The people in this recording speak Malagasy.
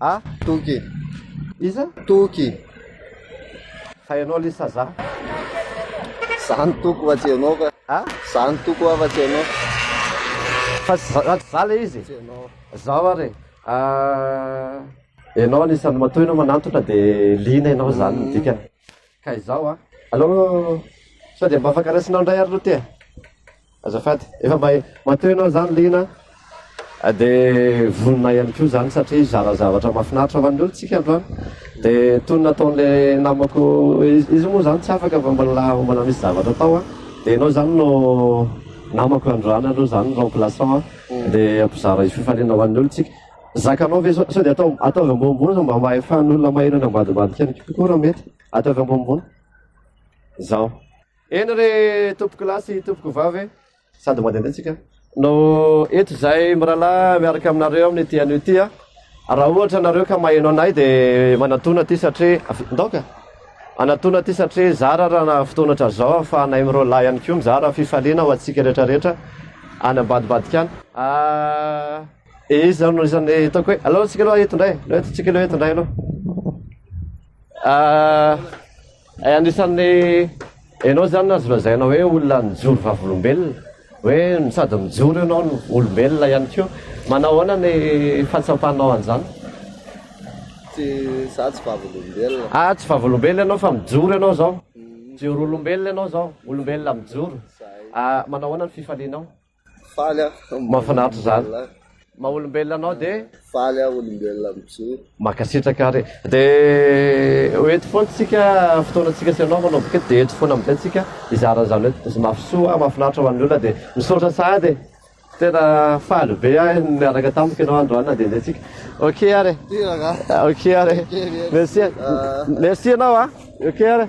A. Toky. Iza? Toky. Fa ianao le saza. Za ny toko fa tsy ianao ka. A. Za ny toko fa tsy ianao. Fa za le izy. Tsy ianao. Zao ary. Ah. Ianao anisan'ny matoy ianao manantona dia liana ianao zany ny dikany. Ka izao a! Allo! Sao dia mba afaka raisinao indray ary lote a! Azafady! Efa mba mateo ianao izany liana a! Dia vonona ihany koa izany satria hizara zavatra mahafinaritra ho an'ny olona isika androany. Dia toy ny nataon'ilay namako, izy moa izany tsy afaka fa mbola mbola misy zavatra atao a! Dia ianao izany no namako androany aloha izany remplaçant a! Dia ampizara io fifaliana ho an'ny olona isika. Zakanao ve zao? Sao dia atao ataovy ambonimbony zao mba hahefan'olona mahery any ambadimbadika any kokoa raha mety? Ataovy ambonimbony. Zao. Eny re tompoko lahy sy tompoko vavy e. Sady mandehandeha tsika. No eto izay mirahalahy miaraka aminareo amin'ity anio ity a. Raha ohatra nareo ka maheno anay dia manatona aty satria ndaoka. Anatona aty satria zara raha fotoana hatrazao ahafahanay mirolahy ihany koa mizara fifaliana ho antsika rehetrarehetra any ambadimbadika any. Ah. Eh, izany no isan'ny ataoko hoe, aleo antsika aloha eto indray, aleo antsika aloha eto indray aloha. Ah, eh, anisan'ny ianao izany azo lazaina hoe olona nijoro vavolombelona, hoe sady mijoro ianao no olombelona ihany koa. Manao ahoana ny fahatsapanao an'izany? Tsy, za tsy vavolombelona. Ah, tsy vavolombelona ianao fa mijoro ianao izao. Mijoro olombelona ianao izao, olombelona mijoro. Ah, manao ahoana ny fifalianao? Faly aho. Mahafinaritra izany. Maha olombelona anao dia. Faly aho olombelona mijoro. Mankasitraka ary. Dia ho eto foana tsika fotoana tsika sy ianao manao boky eto dia eto foana amin'izay tsika hizara an'izany hoe izy mafy soa ary mahafinaritra ho an'ny olona dia misaotra sahady e. Tena faly be aho niaraka tamiko ianao androany na dia izay tsika. Ok ary e. Ok ary e. Merci. Merci ianao a. Ok ary e.